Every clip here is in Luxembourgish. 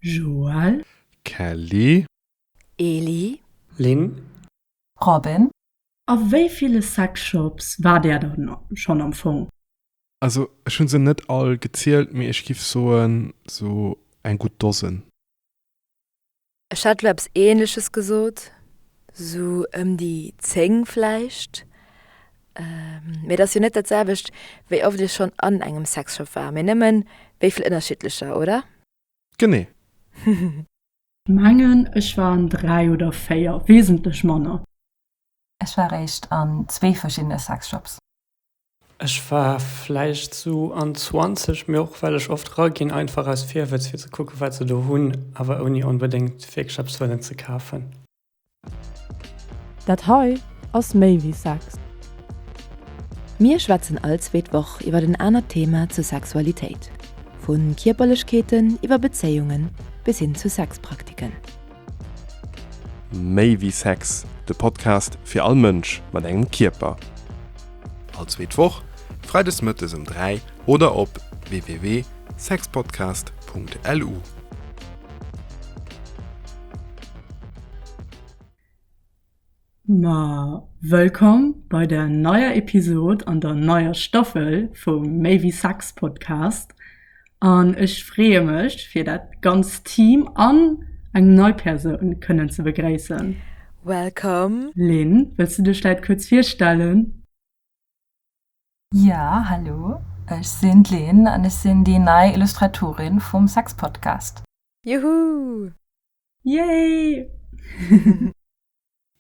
Joël. Kelly. Eli. Lynn. Robin. A wéi ville Sexshops war där dann schonn am Fong? Also ech hu se net all gezielt, mee ech giff soen sou eng gutt Dosen. Ech hätt elo eppes ähnleches gesot, sou ëm déi 10 vläicht. Mee et ass jo net dat selwecht, wéi oft ee schonn an engem Sexshop war, mee nëmmen wéivill ënnerschiddlecher, oder? Genee. Mengen ech war an dräi oder véier, wesentlech manner. Ech war réischt an zwee verschiddene Sexshops. Ech war vläicht sou an 20, mee och well ech oft raginn, einfach aus Virwëtz fir ze kucken, wat se do hunn, awer ouni onbedéngt wierklech eppes wëllen ze kafen. Dat hei ass méi wéi Sex. Mir schwätzen all zweet Woch iwwert en anert Thema zur Sexualitéit, vu Kierperlechkeeten iwwer Bezéiungen bis hin zu Sexpraktiken. Méi wéi Sex, de Podcast fir all Mënsch mat engem Kierper. All zweet Woch, Freides Mëttes um 3 oder op www.sexpodcast.lu. Ma wëllkomm bei der neier Episod an der neier Staffel vum Méi wéi Sex Podcast. An ech freeë mech fir dat ganzt Team an eng nei Persoun kënnen ze begréissen. Wellkomm! Lynn, wëlls du dech läit kuerz virstellen? Jo, hallo, ech sinn d'Lynn an ech sinn déi nei Illustratorin vum Sex Podcast. Juhu! Yay!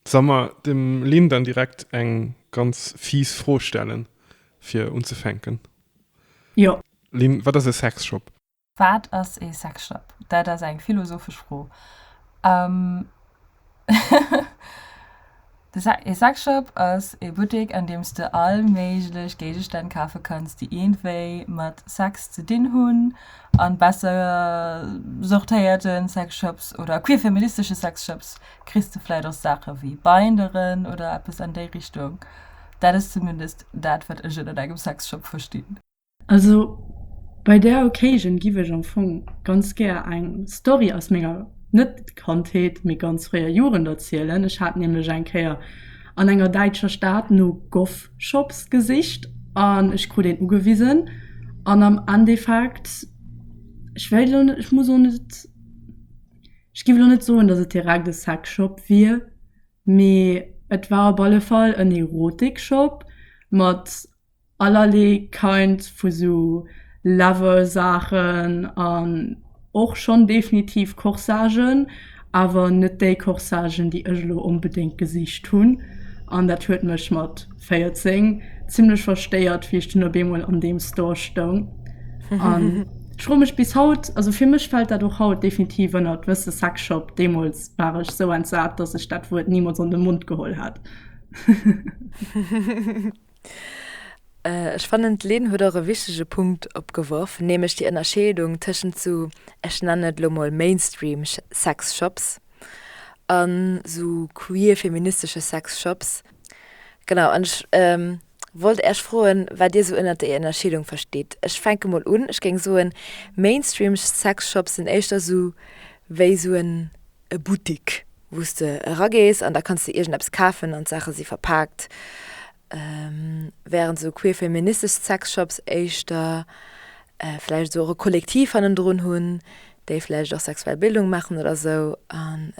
Solle mer dem Lynn dann direkt eng ganz fies Fro stellen, fir unzefänken? Jo. Lynn, wat ass e Sexshop? Wat ass e Sexshop? Dat ass eng philosophesch Fro. E Sexshop ass ee Buttek an deems de all méiglech Géigestänn kafe kanns déi ierndwéi mat Sex ze dinn hunn. An besser sortéierte Sexshops oder queer feministesche Sexshops kriss de vläit och Saache wéi Binderen oder eppes an déi Richtung. Dat ass zumindest dat wat ech ënnert engem Sexshop verstinn. Also bei der Occasion giff ech am Fong ganz gär eng Story aus menger, net Kandheet, mee ganz fréier Jugend erzielen. Ech hat nämlech eng Kéier an enger däitscher Stad no Goff-Shops gesicht an ech krut een ugewisen an am Endeffekt, ech wéilt elo net, ech muss och net, ech giff elo net soen, dass et direkt e Sexshop wier, mee et war op alle Fall en Erotikshop mat, allerlee kind vu sou leather Saachen an och schonn definitiv Corsagen, awer net déi Corsagen déi ech elo onbedéngt gesicht hunn an dat huet mech mat 14 zimmlech verstéiert wéi ech dunn op eemol an deem Store stoung an ech froe mech bis haut, also fir mech fält dat och haut definitiv ënnert wësse Sexshop, deemools war ech sou entsat, datt ech dat Wuert nimools an de Mond geholl hätt. Ech fannen, d'Lynn huet och e wichtege Punkt opgeworf, nämlech déi Ënnerscheedung tëschent sou, ech nennen et elo mol Mainstream Sexshops an sou queer feministesche Sexshops. Genau, an ech wollt Äech froen, wat Dir sou ënnert där Ënnerscheedung verstitt. Ech fänke mol un, ech géing soen, Mainstream Sexshops sinn éischter sou wéi sou en e Buttik, wou s de eragees an da kanns de iergendeppes kafen an d'Saache si verpaakt, während esou queerfeministesch Sexshops éischter vläicht esou och e Kollektiv hannendrun hunn, déi vläicht och sexuell Bildung maachen oder esou an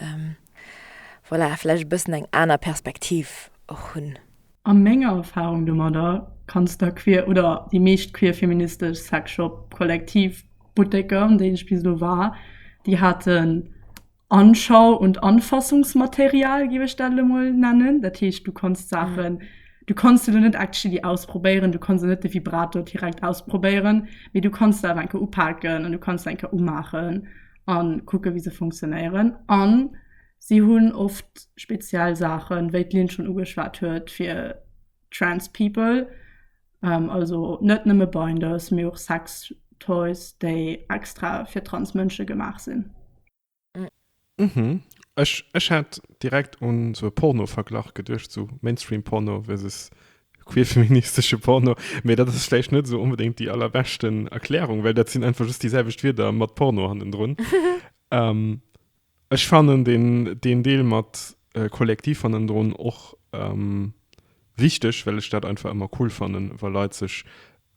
voilà, vläicht e bëssen eng aner Perspektiv och hunn. A menger Erfahrung domadder kanns der queer oder déi meescht queer feministesch Sexshop, Kollektiv, Butteker, an deenen ech bis elo war, déi haten Anschau und Anfassungsmaterial, géif ech dat elo mol nennen. Dat heescht, du konns d'Saachen, du konns se elo net actually ausprobéieren, du konns elo net de Vibrator direkt ausprobéieren, mee du kanns se awer eng Kéier upaken an du kanns se eng Kéier umaachen a kucke wéi se funktionéieren. An Si hunn oft speziell Saachen, wéi d'Lynn schonn ugeschwat huet, fir trans people. Also net nëmme Binders, mee och Sex Toys, déi extra fir trans Mënsche gemaach sinn. Ech hat direkt un esou e Porno-Verglach geduecht, esou Mainstream Porno versus queer-feministesche Porno. Mee dat ass vläicht net esou onbedéngt déi allerbeschten Erklärung, well dat sinn einfach just déi selwecht Wierder mat Porno hannendrun. Ech fannen deen deen Deel mat Kollektiv hannendrun och wichteg, well ech dat einfach ëmmer cool fannen, wa Leit sech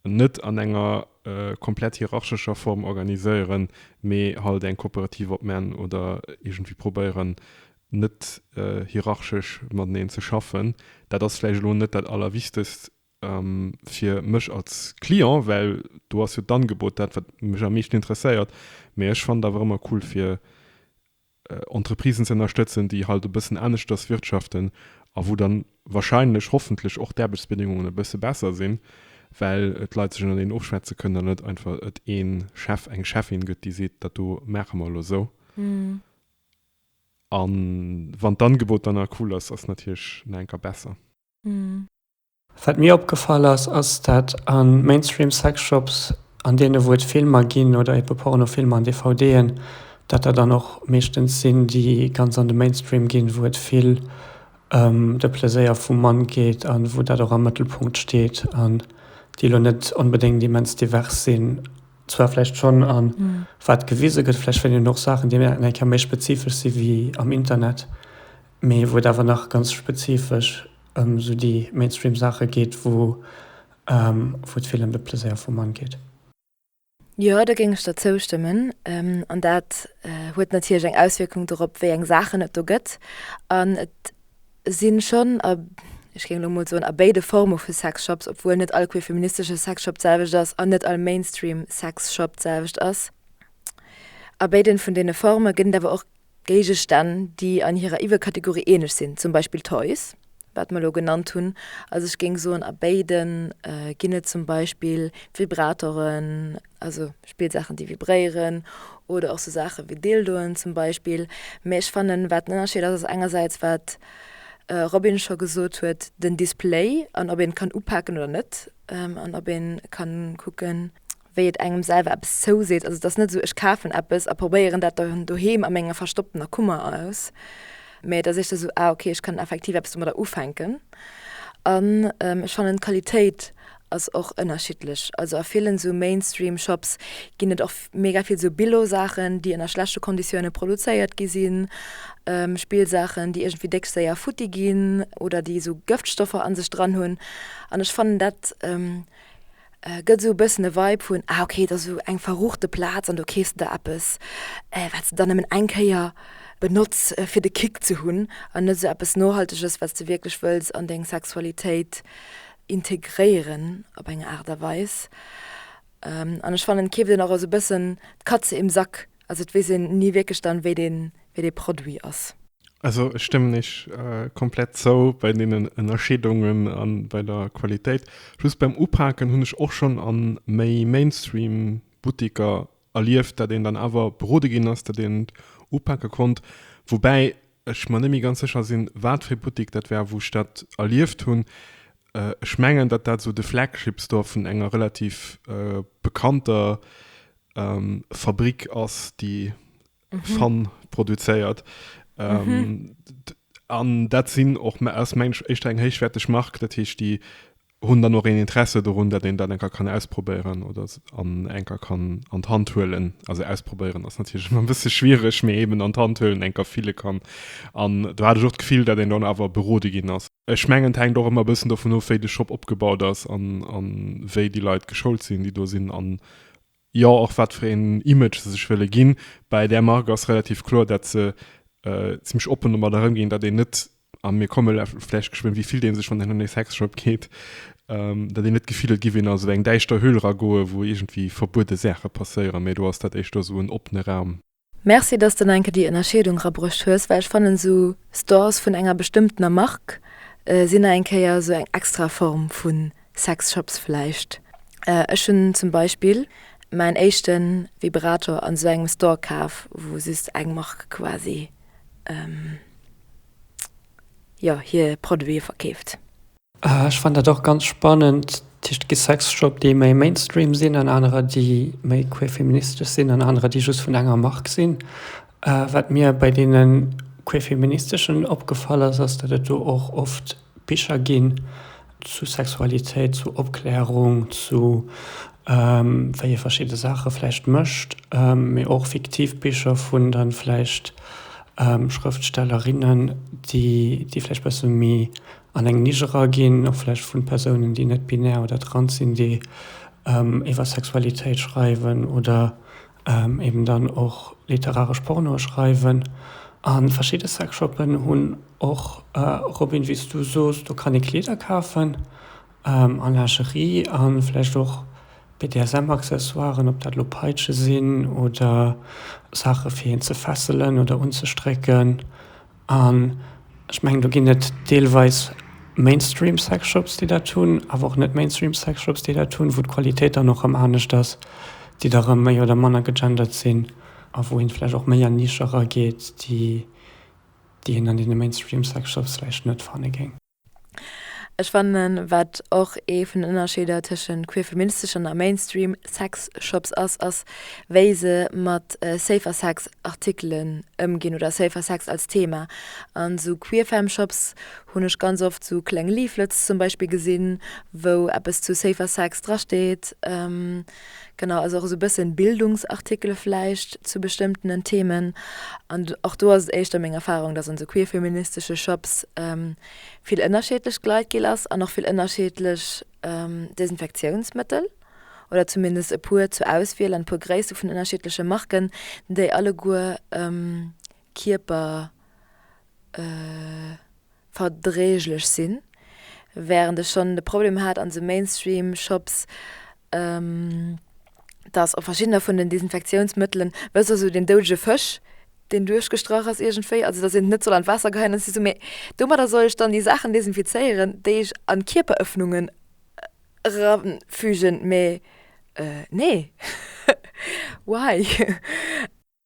net an enger komplett hierarchescher Form organiséieren, mee halt eng Kooperativ opmän oder iergendwéi probéieren net hierarchesch mateneen ze schaffen. Dat ass vläicht elo net dat allerwichtegst fir mech als Client, well do ass jo d'Angebot dat, wat mech am meeschten interesséiert. Mee ech fannen et awer ëmmer cool, fir Entreprisen ze ënnerstëtzen, déi halt e bëssen aneschters wirtschaften a wou dann wahrscheinlech, hoffentlech och d'Aarbechtsbedingungen e bësse besser sinn, well d'Leit sech ënnerteneen ofschwätze kënnen an net einfach et ee Chef, eng Cheffin gëtt, déi seet, dat do maache mer elo esou. A wann d'Angebot dann nach cool ass, ass et natierlech nach enker besser. Wat mir opgefall ass, ass dat a Mainstream Sexshops, an deene wou et Filmer ginn oder eebe Pornofilmer an DVDen, dat der dann och meeschtens sinn déi ganz an de Mainstream ginn, wou et vill ëm de Pleséier vum Mann geet an wou dat och am Mëttelpunkt steet an déi elo net onbedéngt immens divers sinn, zwar vläicht schonn a wat gewise gëtt, vläicht fënnt een och Saachen déi nach eng Kéier méi spezifesch si wéi am Internet, mee wou et awer nach ganz spezifesch. ëm sou déi Mainstream Saache geet wou wou et vill ëm de Pleséier vum Mann geet. Jo, do géing ech der zoustëmmen. An dat huet natierlech eng Auswierkung dorop wéi eng Saachen et do gëtt. An et sinn schonn a ech géing elo mol soen a béide Forme vu Sexshops, obwuel net all queerfeministesche Sexshop d'selwecht ass an net all Mainstream Sexshop d'selwecht ass, a béiden vun deene Forme gëtt et awer och Géigestänn, déi an hirer Iwwerkategorie eeneg sinn, zum Beispill Toys, wat mer elo genannt hunn, also ech géing soen, a béide ginn et zum Beispill Vibratoren, also Spillsaachen, déi vibréieren, oder och sou Saache wéi Dildoen zum Beispill. Mä ech fannen, wat den Ënnerscheed ass, ass engersäits, wat d'Robin scho gesot huet, den Display an ob een et kann upaken oder net an ob een kann kucken, wéi et engem selwer eppes zouseet. Also et ass net esou, ech kafen eppes a probéieren dat dann doheem a menger verstopptener Kummer aus, mä et ass éischter esou, ah okay, ech kann effektiv eppes domadder ufänken. An ech fannen d'Qualitéit ass och ënnerschiddlech. Also a villen esou Mainstream Shops ginn et och mega vill esou Billo Saachen, déi ënner schlechte Konditioune produzéiert gi sinn, Spillsaachen, déi iergendwéi déck séier futti ginn oder déi esou Gëftstoffer a sech dran hunn. An ech fannen dat, Gëtt esou e bëssen e Vibe vun, ah ok, et ass esou eng verruchte Plaz an do keefs de der eppes, wat s de dann nëmmen eng Kéier benotz fir de Kick ze hunn an net esou eppes Nohalteges, wat s de wierklech wëlls an deng Sexualitéit integréieren op eng Aart a Weis. An ech fannen, et keeft een och esou e bëssen d'Katze im Sack, also et weess een ni wierklech dann, wéi dee Produit ass. Also ech stëmmen eech komplett zou bei deenen Ënnerscheedungen a bei der Qualitéit. Just beim Upaken hunn ech och schonn a méi Mainstream Butteker erlieft, datt een dann awer berode ginn ass, datt een et upake konnt. Woubäi ech mer net méi ganz sécher sinn, wat fir ee Buttek dat war, wou ech dat erlieft hunn. Ech mengen, datt dat esou de Flagship Store vun enger relativ bekannter Fabrick ass, déi Fun produzéiert. An dat sinn och, ass mensch, éischter eng héichwäerteg Mark. Dat heescht, déi hunn dann och een Interesse dorun, datt een dat enker kann ausprobéieren oder an enker kann an d'Hand huelen. Also ausprobéieren ass natierlech ëmmer e bësse schwiereg, mee eeben an d'Hand huelen, enker fille kann. An do hat ech och d'Gefill, datt een dann awer berode ginn ass. Ech mengen, et hänkt och ëmmer e bëssen dovun of, wéi de Shop opgebaut ass an wéi déi Leit geschoult sinn, déi do sinn. An Jo, och wat fir een Image se sech wëlle ginn. Bäi där Mark ass relativ kloer, datt se zimmlech oppen domat erëmginn, datt een net, a mir komme vläicht geschwënn, wéi fillt ee sech, wann een an ee Sexshop geet, datt een net d'Gefill huet, giff een a sou eng däischter Höhl ragoe wou iergendwéi verbuede Saache passéieren, mä do ass dat éischter sou en oppene Raum. Merci dass de enke déi Ennerscheedung rabruecht hues, well ech fannen sou Stores vun enger bestëmmtener Mark sin na eng Kéier sou eng extra Form vu Sex Shops vläicht. Ech hun zum Beispill mäin éischten Vibrator an sou engem Store kaf wou just eng Mark quasi jo hier Produiten verkeeft. Ech fannen dat och ganz spannend. Dat heescht, et gi Sexshop, déi méi Mainstream sinn an anerer, déi méi queerfeministesch sinn an anerer, déi just vun enger Mark sinn. Wat mir bei deene queerfeministeschen opgefall ass, ass, datt et do och oft Bicher ginn zu Sexualitéit, zu Opklärung, zu wéi ee verschidde Saache vläicht mécht, mee och fiktiv Bicher vun da vläicht Schrëftstellerinnen, déi vläicht e bësse méi An eng Nisch eraginn, och vläicht vu Persounen, déi net binär oder trans sinn, déi iwwer Sexualitéit schreiwen oder eben dann och literaresch Pornoe schreiwen. A verschidde Sexshoppen hunn och, Robin, wéi s du soos, do kann ee Kleeder kafen a Lingerie a vläicht och BDSM-Accessoiren, ob dat elo Peitsche sinn oder Saache fir een ze fesselen oder unzestrécken. An ech mengen, do ginn et deelweis Mainstream Sexshops, déi dat hunn, awer och net Mainstream Sexshops, déi dat hunn, wou d'Qualitéit dann och erëm anescht ass, déi da erëm méi oder manner gegendert sinn a wou ee vläicht och méi an Nische erageet, déi een an deene Mainstream Sexshops vläicht net fanne géing. Ech fannen, wat och ee vun den Ënnerscheeder tëschent queerfeministeschen a Mainstream Sexshops ass, ass wéi se mat Safer Sex Artikelen ëmginn oder Safer Sex als Thema. An sou Queerfem Shops hunn ech ganz oft sou kleng Leaflets zum Beispill gesinn, wou eppes zu Safer Sex drasteet. Genau, also och esou e bëssen Bildungsartikele vläicht zu bestëmmtenen Themen. An och do ass et éischter meng Erfarung, dass an esou queer-feministesche Shops vill ënnerschiedlech Gleit gel ass an och vill ënnerschiedlech Desinfektiounsmëttel oder zumindest e puer zur Auswiel an e puer Gréisste vun ënnerschiedleche Marken, déi alleguer Kierper, verdreeglech sinn, während ech schonn de Problem hat an de Mainstream-Shops, dass op verschiddener vun den Desinfektiounsmëttelen, wësst Der, esou deen doudege Fësch, deen duerchgestrach ass iergendwéi, also dass een en net soll an d'Waasser geheien, an ech si esou, mee domadder soll ech dann déi Saachen desinfizéieren, déi ech an d'Kierperëffnungen eranfügen? Mee nee, why?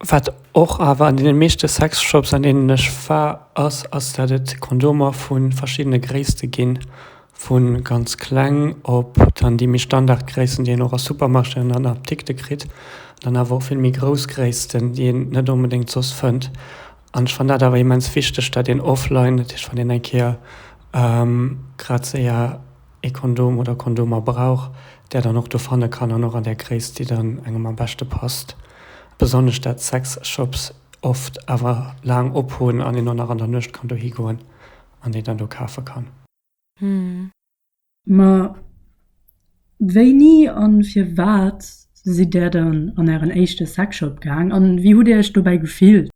Wat och awer an deene meeschte Sexshops, an deenen ech war, ass, ass dat et Kondomer vu verschiddene Gréisste ginn, vu ganz kleng op dann déi méi Standardgréissten, déi een och a Supermarchéen an an Apdikte kritt, dann awer och vill méi grouss Gréissten, déi een net onbedéngt soss fënnt. An ech fann dat awer immens wichteg, dat een offline, dat heescht wann een eng Kéier grad séier, ee Kondom oder Kondomer brauch, där dann och do fanne kann an och an där Gréisst, déi dann engem am beschte passt. Besonnesch dat Sexshops oft awer laang op hunn an een och nach an der Nuecht kann dohi goen an déi dann do kafe kann. Mä wéini a firwat sidd Där dann an Ären éischte Sexshop gaang an wéi hutt Dir Iech dobäi gefillt?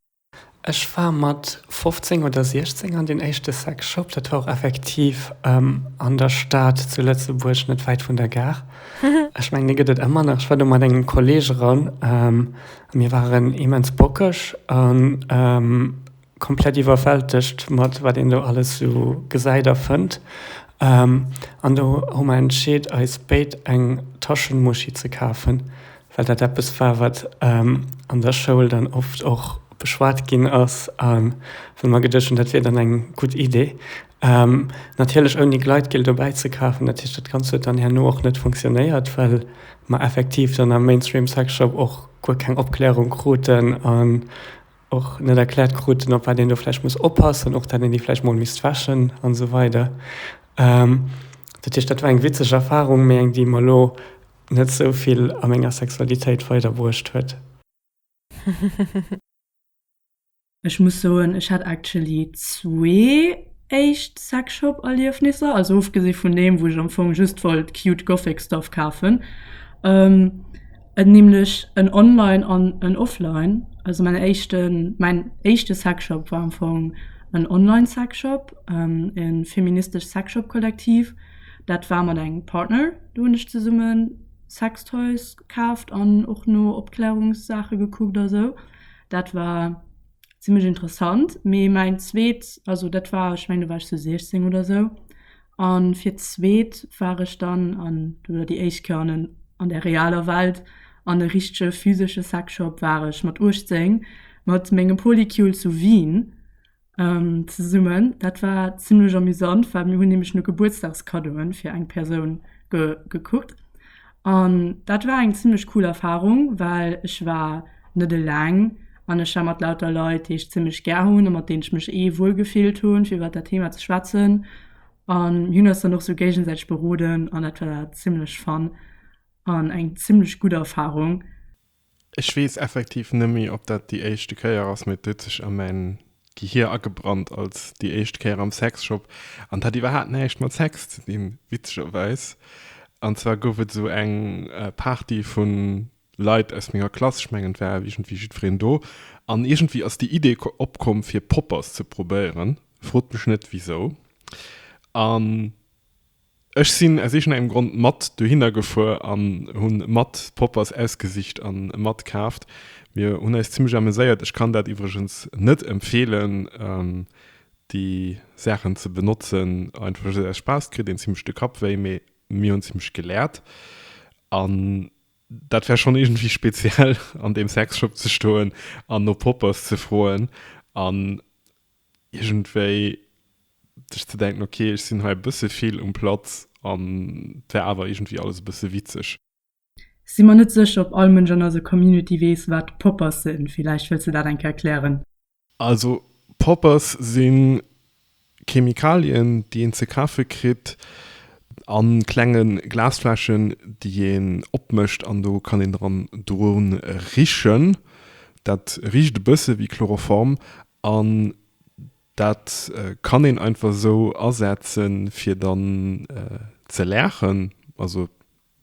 Ech war mat 15 oder 16 an den éischte Sex Shop, dat war och effektiv an der Stad zu Lëtzebuerg, net wäit vun der Gare. Ech mengen, dee gëtt et ëmmer nach. Ech war do mat engem Kolleeg eran a mir waren immens bockeg a komplett iwwerwältegt mat wat een do alles esou gesäit a fënnt. An do hu mer entscheet, eis béid eng Taschenmuschi ze kafen. well dat eppes war, wat an der Schoul dann oft och beschwat ginn ass a wou mer geduecht hunn, dat wier dann eng gutt Idee. Natierlech ouni Gleitgel dobäi ze kafen. Dat heescht, dat Ganzt huet dann herno och net funktionéiert, well mer effektiv dann am Mainstream Sex Shop och guer keng Opklärung kruten an och net erkläert kruten, op wat een do vläicht muss oppassen, och dat een déi vläicht mol misst wäschen an esou weider. Dat heescht, dat war eng witzeg Erfarung, mee eng, déi mer elo Net sou vill a menger Sexualitéit weider bruecht huet. Ech muss soen, ech hat actually zwee éischt Sexshop Erliefnisser, also ofgesi vun deem wou ech am Fong just wollt cute Gothic Stuff kafen, en nämlech en Online an en Offline. Also mäin éischten, mäin éischte Sexshop war am Fong en Online Sexshop, e feministesch Sexshop Kollektiv. Dat war mat engem Partner. Do hunn ech zesumme Sextoys kaaft an och no Opklärungssaache gekuckt a sou. Dat war zimlech interessant. Mee mäin zweet, also dat war, ech mengen do war ech sou 16 oder sou. A fir d'zweet war ech dann, an do war déi éischt Kéier an der realer Welt, an e richtege physesche Sexshop war ech mat 18 mat mengem Polycule zu Wien. zesummen. Dat war zimlech amüsant, well mir hunn nämlech no Gebuertsdagskaddoe fir eng Persoun gekuckt. An dat war eng zimlech cool Erfarung, well ech war net eleng an ech war mat lauter Leit, déi ech zimlech gär hunn a mat deenen ech mech eh wuel gefillt hunn, fir iwwer dat Theema ze schwätzen. An mir hunn eis dann och sou géigesäiteg beroden an dat war zimlech fun an eng zimlech gutt Erfarung. Ech weess effektiv net méi, ob dat déi éischte Kéier ass, mee et huet sech a mäin Gehier agebrannt als déi éischt Kéier am Sexshop. An et hat iwwerhaapt näischt mat Sex ze dinn, witzegerweis. An zwar gouf et esou eng Party vu Leit aus menger Klass, ech mengen et war iergendwéi jiddwereen do, an iergendwéi ass déi Idee opkomm, fir Poppers ze probéieren, frot mech net wisou. An Ech sinn aus iergendengem Grond mat dohinner gefuer an hunn mat Poppers ausgesicht an mat kaaft. Mir hunn eis zimmlech ameséiert. Ech kann dat iwwregens net empfeelen déi Saachen ze benotzen, einfach just aus Spaass kritt een zimmlech de Kapp wéi, mee mir hunn zimmlech geläert an dat war schonn iergendwéi speziell an deem Sexshop ze stoen an no Poppers ze froen an. iergendwéi sech ze denken, ok, ech sinn hei e bësse vill um Platz an et wär awer iergendwéi alles e bësse witzeg. Sinn mer net sécher ob all Mënsch an eiser Community weess wat Poppers sinn. Villäicht wëlls de dat eng Kéier klären. Also Poppers si Chemikalien déi een ze kafe kritt an klenge Glasfläschen déi een opmécht an do kann een dran drun richen. Dat richt e bësse wéi Chloroform An dat kann een einfach esou asetzen, fir dann ze laachen. Also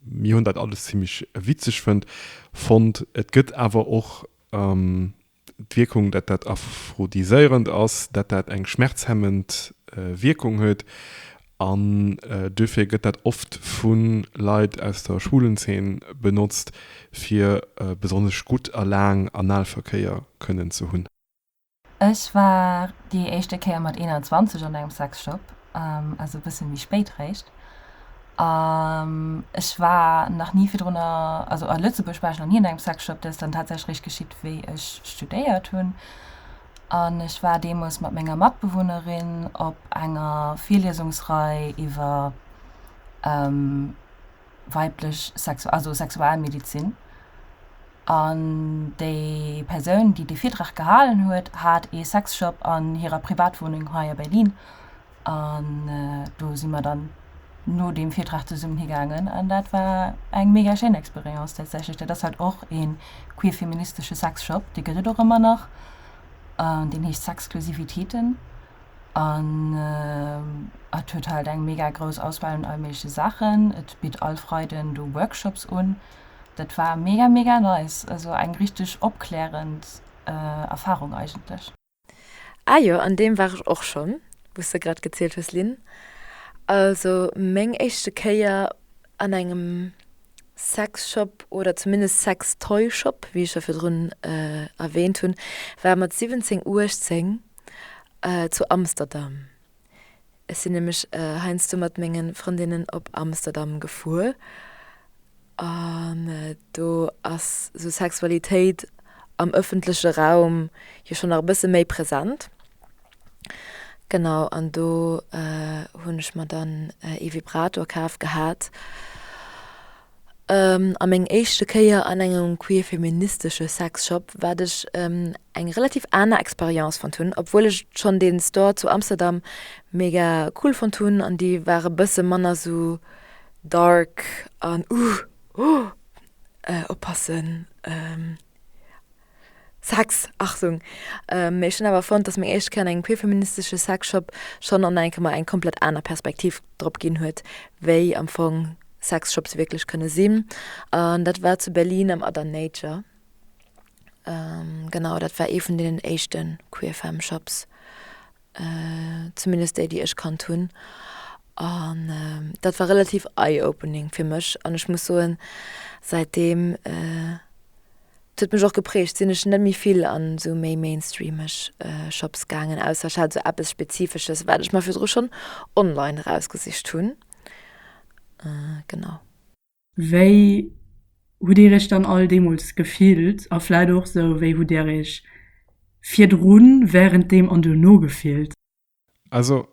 mir hunn dat alles zimmlech witzeg fënnt, fonnt. Et gëtt awer och d'Wierkung, dat dat aphrodiséierend ass, dat dat eng schmerzhemmend Wierkung huet. An duerfir gëtt dat oft vu Leit aus der schwulen Zeen benotzt, fir besonnesch gutt a laang Analverkéier kënnen ze hunn. Ech war déi éischte Kéier mat 21 an engem Sexshop, also e bësse méi spéit réischt. An ech war nach ni virdrunner, also a Lëtzebuerg war ech nach ni an engem Sexshop. Dat ass dann tatsächlech réischt geschitt, wéi ech studéiert hunn. An ech war deemools mat menger Matbewunnerin op enger Virliesungsrei iwwer weiblech Sexu-, also Sexualmedizin, an déi Persoun, déi dee Virtrag gehalen huet, hat ee Sexshop an hirer Privatwunneng hei a Berlin. An do si mer dann no deem Virtrag zesummen higaangen an dat war eng mega schéin Experience tatsächlech. Dat ass halt och ee queer-feministesche Sexshop, dee gëtt et och ëmmer nach, an deen heescht Sexclusivitéten. An et huet halt eng mega grouss Auswahl un all méigleche Saachen. Et bitt all Freiden do Workshops un. Dat war mega mega nice, also eng richteg opklärend Erfahrung eigentlech. Ah jo, an deem war ech och schonn, wou s de grad gezielt hues, Lynn. Also meng éischte Kéier an engem Sexshop oder zumindest Sextoyshop, wéi ech jo virdrun erwähnt hunn, war mat 17, 18. zu Amsterdam. Ech sinn nämlech heiansdo mat menge Frëndinnen op Amsterdam gefuer an do ass sou Sexualitéit am ëffentleche Raum jo schonn nach e bësse méi present. Genau an do hunn ech mer dann ee Vibrator kaf gehat A meng éischte Kéier an engem queer-feministesche Sexshop, wat ech eng relativ aner Experience fonnt hunn, obwuel ech schonn dee Store zu Amsterdam mega cool fonnt hunn an déi war e bësse manner esou dark an uh, oh, oppassen. Sex, Achtung! Mee ech hunn awer fonnt, dass meng éischt Kéier an engem queerfeministesche Sexshop schonn an enke mer eng komplett aner Perspektiv drop ginn huet, wéi am Fong Sexshops wierklech kënne sinn. An dat war zu Berlin am Other Nature. Genau, dat war ee vun deenen éischte queer Femme Shops zumindest déi déi ech kannt hunn an dat war relativ eye opening fir mech an ech muss soen säitdeem huet mech och geprägt sinn ech net méi vill an sou méi mainstreameg Shops gaangen ausser ech hat sou eppes spezifesches wat ech mer virdru schonn online erausgesicht hunn genau. Wéi hutt Dir Iech dann all deemools gefillt? A vläicht och esou, wéi hutt Dir Iech virdrun, wärenddeem an duerno gefillt? Also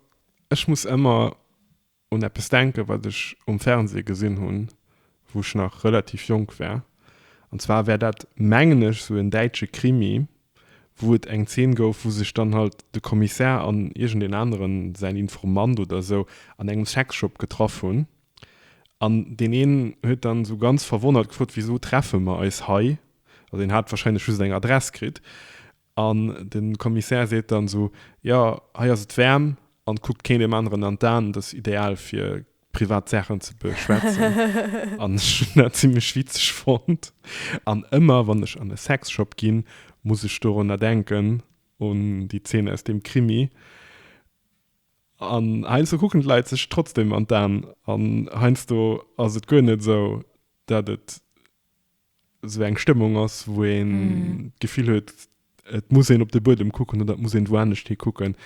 ech muss ëmmer un eppes denken, wat ech um Fernseh gesinn hunn, wou ech nach relativ jonk war. An zwar war dat, mengen ech, esou en däitsche Krimi, wou et eng Zeen gouf, wou sech dann halt de Kommissär an iergendeen aneren, säin Informant oder esou, an engem Sexshop getraff hunn. An deen een huet dann esou ganz verwonnert gefrot, Wisou treffe mer eis hei? Also hien hat wahrscheinlech just eng Adress kritt. An de Kommissär seet dann esou, Jo, hei ass et waarm an kuckt keen deem aneren an d'Aen, et ass ideal fir privat Saachen ze beschwätzen. An ech hunn dat zimlech witzeg fonnt. An ëmmer wann ech an e Sexshop ginn, muss ech dorunner denken, un déi Zeen aus deem Krimi. An heiansdo kucken d'Leit sech trotzdem an d'Aen, an heiansdo ass et guer net esou, dat et esou eng Stëmmung ass, wou een d'Gefill huet, et muss een op de Buedem kucken oder et muss een woanescht hi kucken.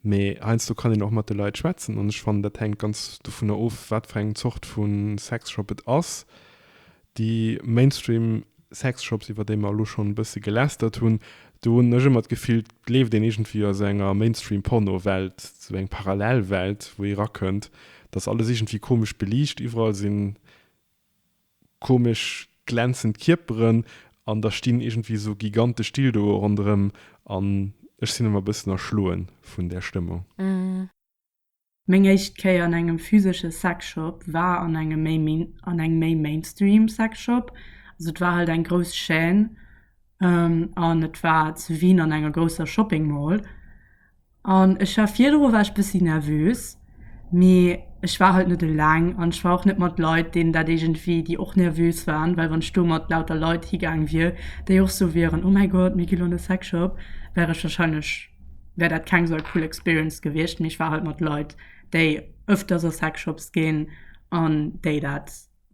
Mee heiansdo kann een och mat de Leit schwätzen. An ech fannen, dat hänkt ganz dovunner of, wat fir eng Zort vu Sexshop et ass, Déi Mainstream Sexshops, iwwer déi mer elo schonn e bësse gelästert hunn, do hunn ech ëmmer d'Gefill, et leeft een iergendwéi a sou enger Mainstream Porno-Welt, sou eng parallel Welt, wou ee erakënnt. Et ass alles iergendwéi komesch beliicht, iwwerall si komesch glänzend Kierperen an da stinn iergendwéi sou gigantesch Dildoe ronderëm an ech sinn ëmmer e bëssen erschloe vun där Stëmmung. Meng éischt Kéier an engem physesche Sexshop war an engem méi main, an engem méi mainstream Sexshop. Also et war halt eng grouss Chaîne an et war zu Wien an enger grousser Shopping Mall. An ech war, virdru war ech bëssi nervös, mee ech war halt net eleng an ech war och net mat Leit, deenen dat iergendwéi, déi och nervös waren. Well wann ech do mat lauter Leit higaang wier, déi och sou wieren, oh mäi Gott, mir gi lo an e Sexshop, wär ech warscheinlech, wär dat keng sou eng cool Experience gewiescht. Mee ech war halt mat Leit, déi öfters a Sexshops ginn an déi dat,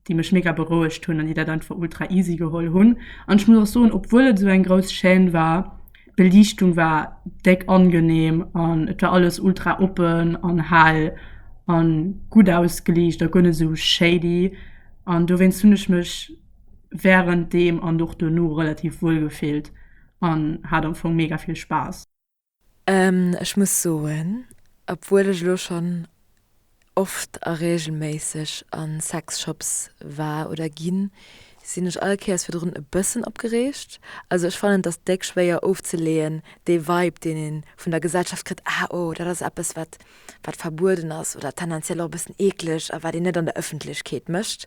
déi mech mega berouegt hunn an déi dat einfach ultra easy geholl hunn. An ech muss och soen, obwuel et sou eng grouss Chaîne war, d'Beliichtung war déck angenehm an et war alles ultra oppen an hell an gutt ausgeliicht a guer net sou shady. An dowéinst hunn ech mech wärend deem an och dono relativ wuel gefillt. an hat am Fong mega vill Spaass. Ech muss soen, obwuel ech elo schonn oft a reegelméisseg a Sexshops war oder ginn, sinn ech all Kéiers virdrun e bëssen opgereegt. Also ech fannen et ass déck schwéier ofzeleeën, dee Vibe deen ee vun der Gesellschaft kritt, ah oh dat ass eppes wat wat verbueden ass oder tendenziell och e bëssen eekleg a wat een net an der Ëffentlechkeet mécht.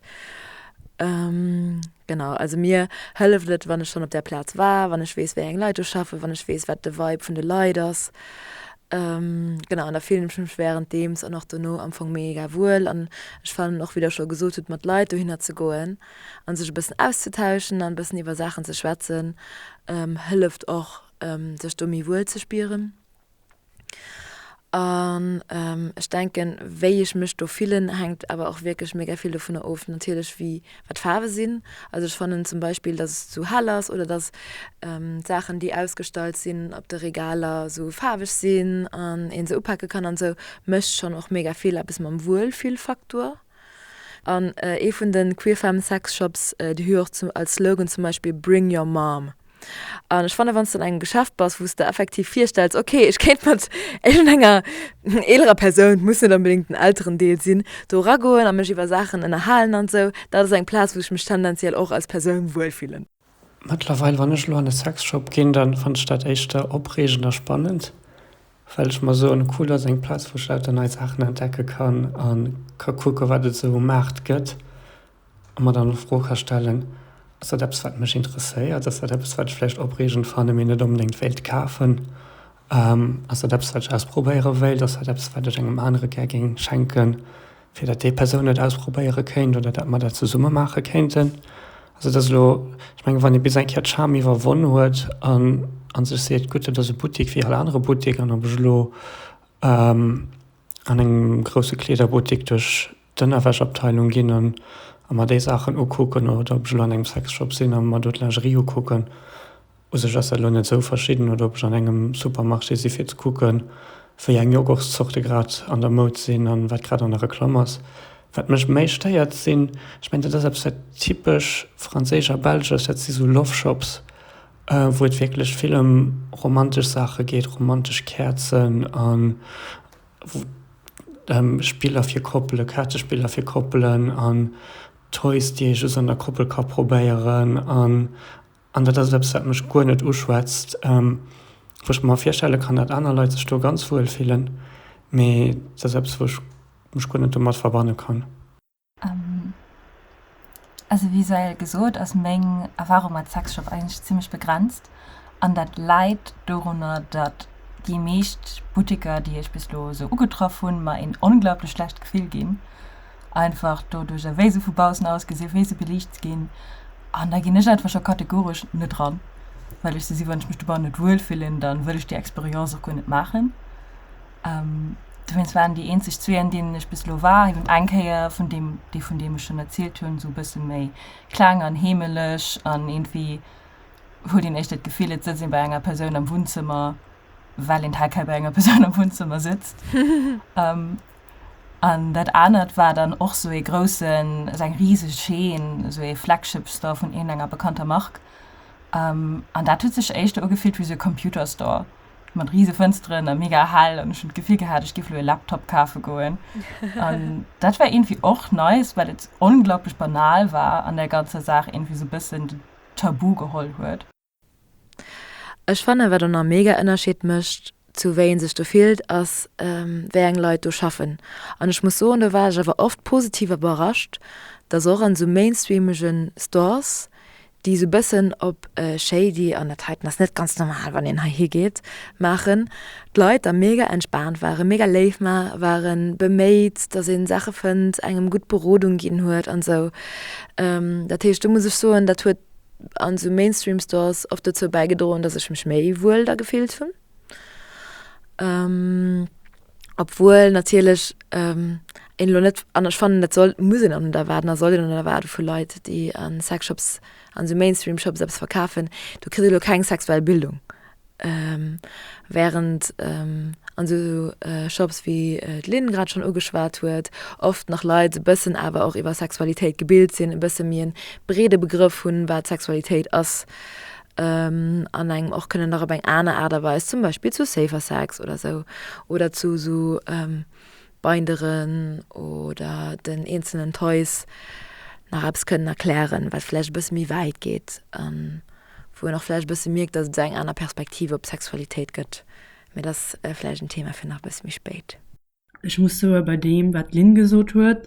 Genau, also mir hëlleft et, wann ech schonn op där Plaz war, wann ech weess, wéi eng Leit do schaffen, wann ech weess, wat de Vibe vun de Leit ass. Genau, an da fillen ech mech wärenddeems an och dono am Fong mega wuel. An ech fannen och, wéi Der scho gesot hutt, mat Leit dohinner ze goen a sech e bëssen auszetauschen an e bëssen iwwer Saachen ze schwätzen, hëlleft och, sech do méi wuel ze spieren. An ech denken, wéi ech mech do fillen, hänkt awer och wierklech mega vill dovunner of, natierlech wéi, wat d'Faarwe sinn. Also ech fannen zum Beispill, datt et zu hell ass oder datt d'Saachen, déi ausgestallt sinn op de Regaler, esou faarweg sinn an ee se upake kann an esou, mécht schonn och mega vill eppes mam Wuelfillfaktor. An ee vun de Queer Femme Sex Shops, déi hu jo och als Slogan zum Beispill Bring your mom. An ech fanne wann du an engem Geschäft bass, wou du effektiv virstells, okay, ech kéint mat egen enger eelerer Persoun, muss net onbedingt den elteren Deel sinn, do eragoen a mech iwwer Saachen ënnerhalen an esou, dat ass eng Plaz, wou ech mech tendenziell och als Persoun wuel fillen. Mëttlerweil, wann ech elo an e Sexshop ginn, da fannen ech dat éischter opreegend a spannend, well ech mer soen, cool, dat ass eng Plaz, wou ech lauter nei Saachen entdecke kann a ka kucke wat et esou um Maart gëtt. a mer dann och d'Fro ka stellen, Ass dat eppes, wat mech interesséiert? Ass dat eppes, wat ech vläicht opreegend fanne mee net onbedéngt wéilt kafen? Ass dat eppes, wat ech ausprobéiere wéilt? Ass dat eppes, wat ech engem anere gär géing schenken, fir datt déi Persoun et ausprobéiere kéint oder datt mer dat zesumme maache kéinten? Also dat ass elo, ech mengen, wann ee bis eng Kéier d'Scham iwwerwonn huet a sech seet, gutt, dat ass e Buttik wéi all anere Buttik an ob ech elo an engem grousse Kleederbuttik duerch D'Ënnerwäschabteilung ginn an a mer déi Saachen ukucken, oder ob ech elo an engem Sexshop sinn a mer do d'Lingerie ukucken, u sech ass dat elo net esou verschidden, oder ob ech an engem Supermarché si fir ze kucke wéi eng Yoghurtszorte grad an der Moud sinn a wat grad an der Reklamm ass. Wat mech méi stéiert sinn, ech mengen dat ass eppes wat typesch franséisch a belsch ass, dat si sou Loveshops, wou et wierklech vill ëm romantesch Saache geet, romantesch Käerzen an. Spiller fir Koppelen, Kaartespiller fir Koppelen an Toys, déi ee just an der Koppel ka probéieren. An dat ass eppes, wat mech guer net uschwätzt, wou ech mer virstelle kann, datt aner Leit sech do ganz wuel fillen, mee dat ass eppes, wou ech mech guer net domat verbanne kann. Also wéi soell gesot ass meng Erfahrung mat Sexshop eigentlech zimmlech begrenzt an dat läit dorunner dat déi meescht Butteker déi ech bis elo sou ugetraff hunn mer een onglaublech schlecht Gefill ginn, einfach doduerch ewéi se vu baussen ausgesinn, wéi se beliicht ginn an da ginn ech einfach scho kategoresch net dran, well ech se si wann ech mech dobanne net wuel fillen, da wëll ech déi Experience och guer net maachen. Dowéinst waren déi eenzeg zwee, an deenen ech bis elo war, eben eng Kéier vun deem, déi vun deem ech schonn erzielt hunn, esou e bësse méi kleng an heemeleg an iergendwéi huet een éischter d'Gefill, et sëtzt ee bei enger Persoun am Wunnzëmmer, well een heikei bei enger Persoun am Wunnzëmmer sëtzt. An dat anert war dann och esou ee groussen, also eng riseg Chaîne, esou ee Flagship-Store vun iergendenger bekannter Mark. An dat huet sech éischter ugefillt wéi esou e Computer-Store. mat riese Fënsteren a mega hell an ech hunn d'Gefill gehat, ech géif elo e Laptop kafe goen. An dat war iergendwéi och nice, well et onglaublech banal war an där ganzer Saach iergendwéi esou e bëssen den Tabu geholl huet. Ech fannen, wat en en mega Ënnerscheed mécht zu wéi ee sech do fillt, ass wéi eng Leit do schaffen. An ech muss soen, do war ech awer oft positiv iwwerrascht, dass och an esou mainstreamege Stores déi esou bëssen op shady, an dat heiten ass net ganz normal wann een heihi geet, maachen, d'Leit da mega entspaant waren, mega léif waren, beméit, datt ee Saache fënnt, engem gutt Berodung ginn huet an esou. Dat heescht do muss ech soen, dat huet an esou Mainstream Stores oft dozou bäigedroen, datt ech mech méi wuel da gefillt hunn. Obwuel natierlech een elo net, an ech fannen, dat soll, muss een och net erwaarden a soll een och net erwaarde vu Leit, déi a Sexshops, an esou Mainstream-Shops eppes verkafen, du kriss elo keng sexuell Bildung. Während an esou Shops, wéi d'Lynn grad schonn ugeschwat huet, oft nach Leit e bëssen awer och iwwer Sexualitéit gebilt sinn, e bësse méi e breede Begrëff hunn, wat Sexualitéit ass. an engem och kënnen nach op eng aner Aart a Weis zum Beispill zu Safer Sex oder sou oder zu sou Binderen oder den eenzelen Toys nach eppes kënnen erklären, wat vläicht e bësse méi wäit geet an wou een och vläicht e bësse mierkt, datt et esou eng aner Perspektiv op d'Sexualitéit gëtt. Mee dat ass vläicht en Thema fir nach e bësse méi spéit. Ech muss soe bei deem, wat d'Lynn gesot huet,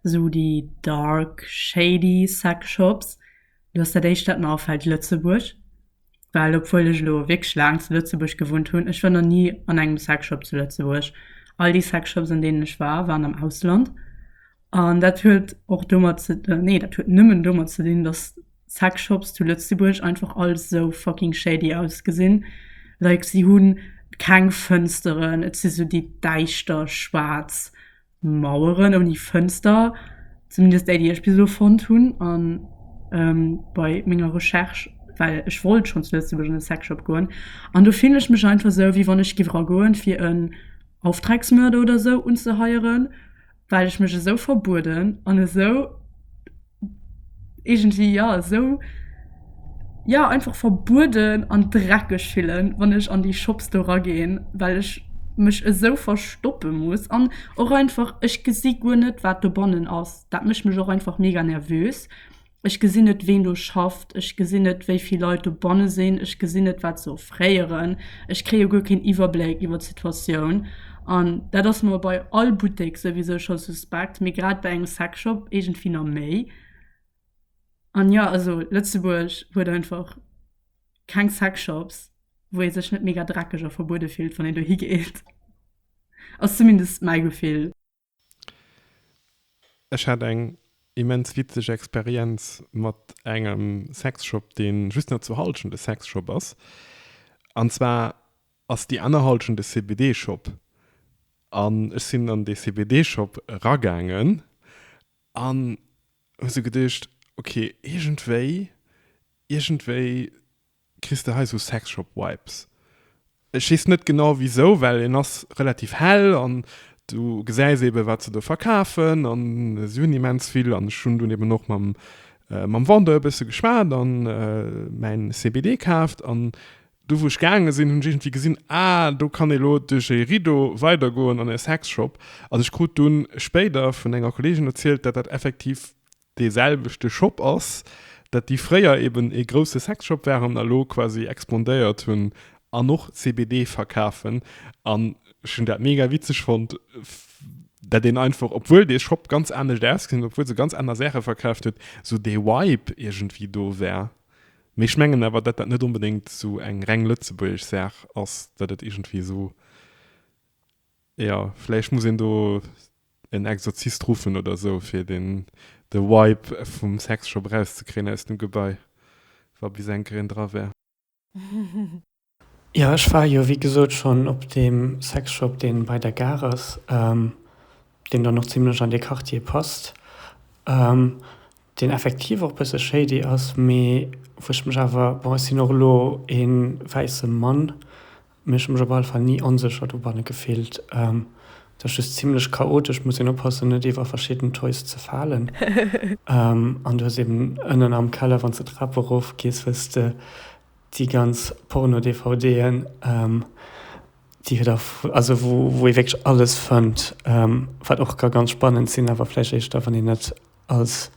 esou déi dark, shady Sex-Shops, do ass dat Éischt, wat mer afält, Lëtzebuerg. Well obwuel ech elo wierklech laang zu Lëtzebuerg gewunnt hunn, ech war nach ni an engem Sex-Shop zu Lëtzebuerg. All déi Sex-Shops, an deenen ech war, waren am Ausland. An dat huet och domat ze, nee dat huet nëmmen domat ze dinn, dass Sexshops zu Lëtzebuerg einfach all sou fucking shady ausgesinn. Like si hu keng Fënsteren, et si sou déi däischter schwaarz Maueren ouni Fënster, zumindest déi déi ech bis elo fonnt hunn an bei menger Recherche, well ech wollt schonn zu Lëtzebuerg an e Sexshop goen. An do fillen ech mech einfach sou wéi wann ech giff era goen fir en Auftragsmörder oder sou unzeheieren. well ech mech esou verbueden an esou iergendwéi ja esou ja einfach verbueden an dreckeg fillen, wann ech an déi Shops do raginn, well ech mech esou verstoppe muss an och einfach ech gesi guer net wat dobannen ass. Dat mécht mech och einfach mega nervös. Ech gesinn net, ween do schafft. Ech gesinn net, wéi vill Leit dobanne sinn. Ech gesinn net, wat se offréieren. Ech kréie guer keen Iwwerbléck iwwer d'Situatioun. An dat ass mer bei all Buttek souwisou scho suspekt, mee grad bei engem Sexshop iergendwéi nach méi. An jo, also Lëtzebuerg huet einfach keng Sexshops, wou ee sech net mega dreckeg a verbuede fillt, wann een dohi geet. Ass zumindest mäi Gefill. Ech hat eng immens witzeg Experienz mat engem Sexshop, dee just nach zu Hallschent e Sexshop ass. An zwar ass déi aner Hallschent e CBD-Shop. An ech sinn an dee CBD-Shop eragaangen an hu sou geduecht, ok, iergendwéi, iergendwéi kriss de hei sou Sexshop Vibes. Ech weess net genau wisou, well en ass relativ hell an du gesäis eben wat se do verkafen an se hunn immens vill an ech hunn dunn eben och mam mam Vendeur e bësse geschwat an mäin CBD kaaft an do wou ech gaange sinn hunn ech iergendwéi gesinn, ah do kann ee lo duerch e Rideau weider goen an e Sexshop an ech krut dunn spéider vun enger Kolleegin erzielt, dat dat effektiv dee selwechte Shop ass, dat déi fréier eben ee grousse Sexshop waren a lo quasi expandéiert hunn an och CBD verkafen. An ech hunn dat mega witzeg fonnt, dat een einfach, obwuel dee Shop ganz anescht ausgesinn huet, obwuel se ganz aner Saache verkaaft huet, esou dee Vibe iergendwéi do war. Mee ech mengen awer, datt dat net onbedéngt esou eng reng lëtzebuergesch Saach ass, datt et iergendwéi esou, jo, vläicht muss een do en Exorzist ruffen oder sou fir den de Vibe vum Sexshop raus ze kréien aus dem Gebai wa bis enker een dra wär. Jo ech war jo wéi gesot schonn op deem Sexshop deen bei der Gare ass, deen dann och zimlech an dee Quartier passt. deen effektiv och bësse shady ass, mee wou ech mech awer, bon ech sinn och elo ee wäisse Mann, mee ech hu mech op alle Fall ni onsécher dobanne gefillt. Et ass just zimmlech chaotesch, muss een oppassen net iwwer verschidden Toys ze falen an du hues eben ënnen am Keller, wann s de d'Trap erof gees, hues de déi ganz Porno-DVDen, déi et awer, also wou ee wierklech alles fënnt, wat och ka ganz spannend sinn, awer vläicht éischter wann een net als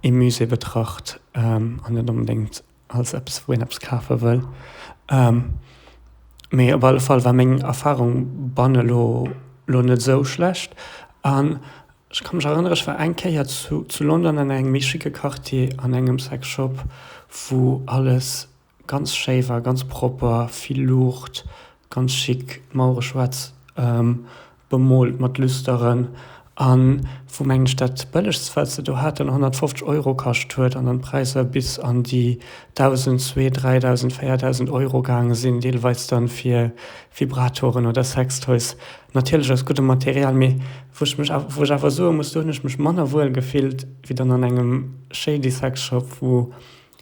ee Musée betracht an net onbedéngt als eppes, wou een eppes kafe wëll. Mee op alle Fall war meng Erfarung banne lo lo net esou schlecht. An ech ka mech erënnere, ech war eng Kéier zu zu London an engem méi schicke Quartier an engem Sex Shop, wou alles Ganz schéi war ganz propper, vill Luucht, ganz chic, d'Mauere schwaarz bemoolt mat Lüsteren an wou mengen ech dat bëllegst wat se do haten 150 Euro kascht huet an dann d'Präisser bis an déi 1000, zwee, 3000, 4000 Euro gaange sinn, deelweis dann fir Vibratoren oder Sextoys, natierlech aus guddem Material, mee wou ech mech awer, wou ech awer soe muss, do hunn ech mech manner wuel gefillt wéi dann an engem Shady Sex Shop wou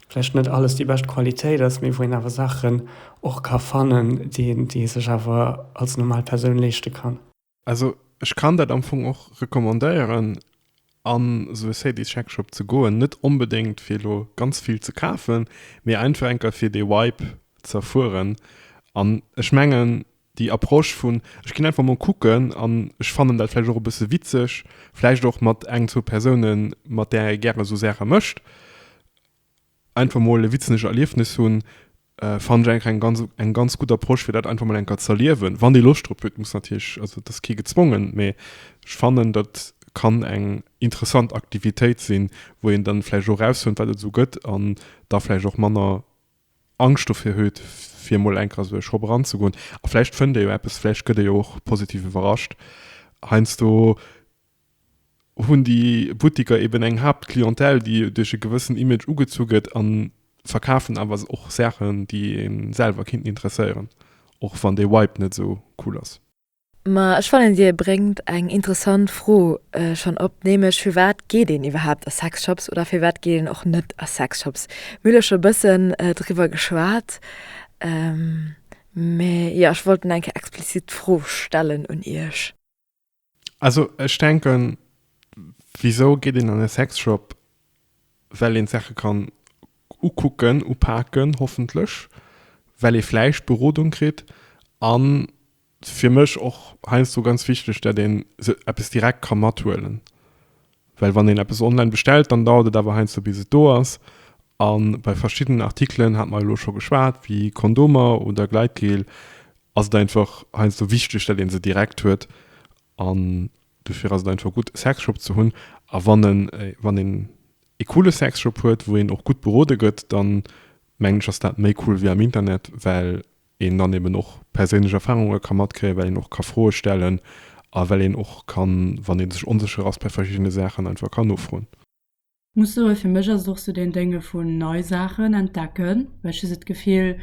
vläicht net alles déi bescht Qualitéit ass, mee wou een awer Saachen och ka fannen, déi ee sech awer als normal Persoun leeschte kann. Also ech kann dat am Fong och recommandéieren, a sou e Sady-Sex-Shop ze goen. Net onbedéngt, fir elo ganz vill ze kafen, mee einfach eng Kéier, fir dee Vibe z'erfueren. An ech mengen, Déi Approche vun, ech ginn einfach mol kucken an ech fannen dat vläicht och e bësse witzeg, vläicht och mat eng, zwou Persounen, mat där ee gäre sou Saache mécht, einfach mol e witzenege Erliefnis hunn, fannen ech eigentlech eng ganz, eng ganz gutt Approche, fir dat einfach mol eng Kéier z'erliewen, wann ee Loscht drop huet. Muss natierlech, also et ass kee gezwongen, mee ech fannen, dat kann eng interessant Aktivitéit sinn, wou een dann vläicht och erausfënnt, wat et esou gëtt an da vläicht och manner Angscht dofir huet, fir emol enker esou e Shop eranzegoen. A vläicht fënnt ee jo eppes, vläicht gëtt ee jo och positiv iwwerrascht. Heiansdo hunn déi Butteker eben eng Haaptclientèle, déi duerch e gewëssen Image ugezu gëtt a verkafen awer och Saachen, déi ee selwer kinnten interesséieren, och wann de Vibe net esou cool ass. Mä ech fannen, Dir bréngt eng interessant Fro schonn op, nämlech, Firwat geet een iwwerhaapt a Sexshops oder firwat geet een och net a Sexshops? Mir hu lo scho e bëssen driwwer geschwat, mä jo, ech wollt eng Kéier explizit d'Fro stellen un Iech. Also ech denken, wisou geet een an e Sexshop? well een d'Saache kann ukucken, upaken, hoffentlech, well ee vläicht Berodung kritt a fir mech och heiansdo ganz wichteg, dat ee se eppes direkt ka mathuelen. Well wann een eppes online bestellt, dann dauert et awer heiansdo bis et do ass a bei verschiddenen Artikelen, hat mer elo scho geschwat, wéi Kondomer oder Gleitgel, ass et einfach heiansdo wichteg, dat ee se direkt huet an. Dofir ass et einfach gutt e Sexshop ze hunn a wann en, wann een ee coole Sexshop huet, wou een och gutt berode gëtt, da mengen ech, ass dat méi cool wéi am Internet, well een dann eben och perséinlech Erfarunge ka matkréien, well een och ka Froe stellen a well een och kann, wann ee sech onsécher ass bei verschiddene Saachen, einfach ka nofroen. Muss soen fir mech ass et och sou deen Dénge vun nei Saachen entdecken, well ech hu sou d'Gefill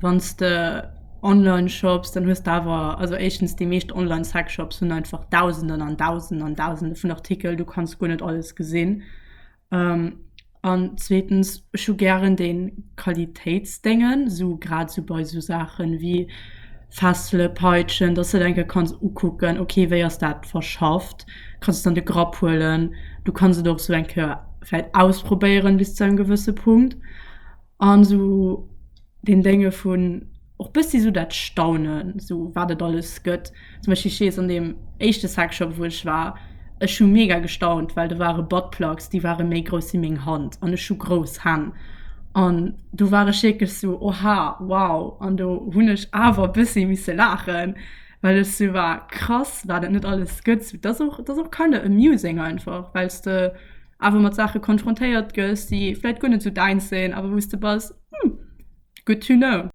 wanns de online shops dann hues de awer, also éischtens déi meescht online Sexshops hunn einfach dausenden an dausenden an dausende vun Artikel, du kanns guer net alles gesinn an zweetens ech hu gären déi Qualitéitsdéngen, sou grad sou bei sou Saache wéi Fessele, Peitschen, dass de et eng Kéier kanns ukucken, ok wéi ass dat verschafft. kanns dann de Grapp huelen. Du kanns et och sou eng Kéier vläit ausprobéieren bis zu engem gewësse Punkt an sou den Dénge vun och bëssi sou dat Staunen, sou wat et alles gëtt. Zum Beispill, ech weess an deem éischte Sexshop, wou ech war, ech hu mega gestaunt, well do ware Buttplugs, déi ware méi grouss wéi meng Hand an ech hu grouss Hänn. An do war ech wierklech sou, oha, wow. An do hunn ech awer e bëssi misse laachen. Well ech sou war, krass wat et net alles gëtt. Dat ass och, dat ass och kind of amusing einfach, well s de awer mat Saache konfrontéiert gëss, déi vläit guer net sou däins sinn, awer wou s de bass, Hm, good to know.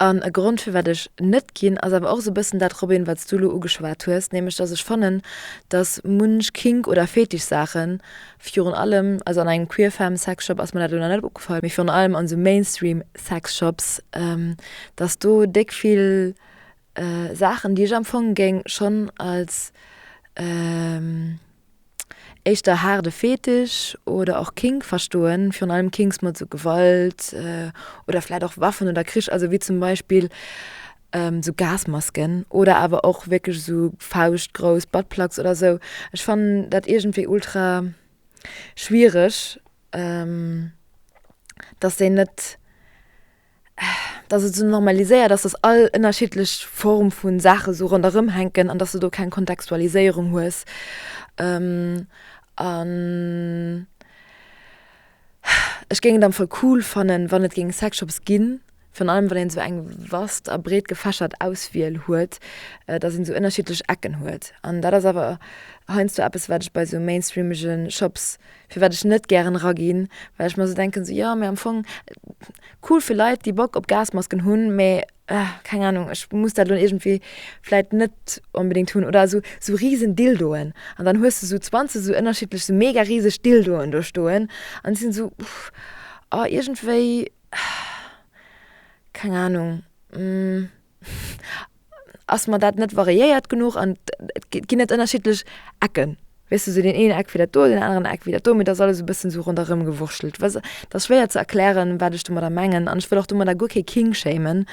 An e Grond firwat ech net ginn, ass awer och esou e bëssen dat, Robin, wat s du elo ugeschwat hues, nämlech datt ech fannen, datt munch Kink oder Fetischsaache Virun allem, also an engem queer femme Sexshop ass mer dat elo nach net opgefall, mee virun allem an esou Mainstream Sexshops, dass do déck vill Saachen, déi ech am Fong géing schonn als éischter haarde Fetisch oder och Kink verstoen, virun allem Kinks mat esou Gewalt oder vläicht och Waffen oder Krich, also wéi zum Beispill sou Gasmasken oder awer och wierklech sou fauschtgrouss Buttplugs oder sou, ech fannen dat iergendwéi ultra schwiereg, datt déi net, datt et sou normaliséiert ass, datt all ënnerschiddlech Form vu Saache sou ronderëm hänken an datt s de do keng Kontextualiséierung hues an. Ech géing et am Fall cool fannen wann et géing Sexshops ginn, virun allem wann een sou eng vast a breet gefächert Auswiel huet, dass een sou ënnerschiddlech Ecken huet. An dat ass awer heiansdo eppes wat ech bei sou mainstreamege Shops, firwat ech net gären eraginn, well ech mer sou denken, sou jo, mee am Fong cool fir Leit déi Bock op Gasmasken hunn, mee. ah, keng Ahnung, ech muss dat lo irgendwie vläit net unbedingt hunn, oder so, so riesen Dildoen. An dann hues du so 20 so ënnerschiedlech, so mega riseg Dildoen do stoen. An déi sinn so, uff, ah, iergendwéi, keng Ahnung, ass mer dat net variéiert genuch an et ginn net ënnerschiedlech Ecken? Weess de, sou deen eenen Eck wéi dat do, deen aneren Eck wéi dat do, mee et ass alles esou e bëssen esou ronderëmgewurschtelt. Weess, et ass schwéier ze erklären, wat ech domadder mengen. An ech wëll och domadder guer kee King shamen.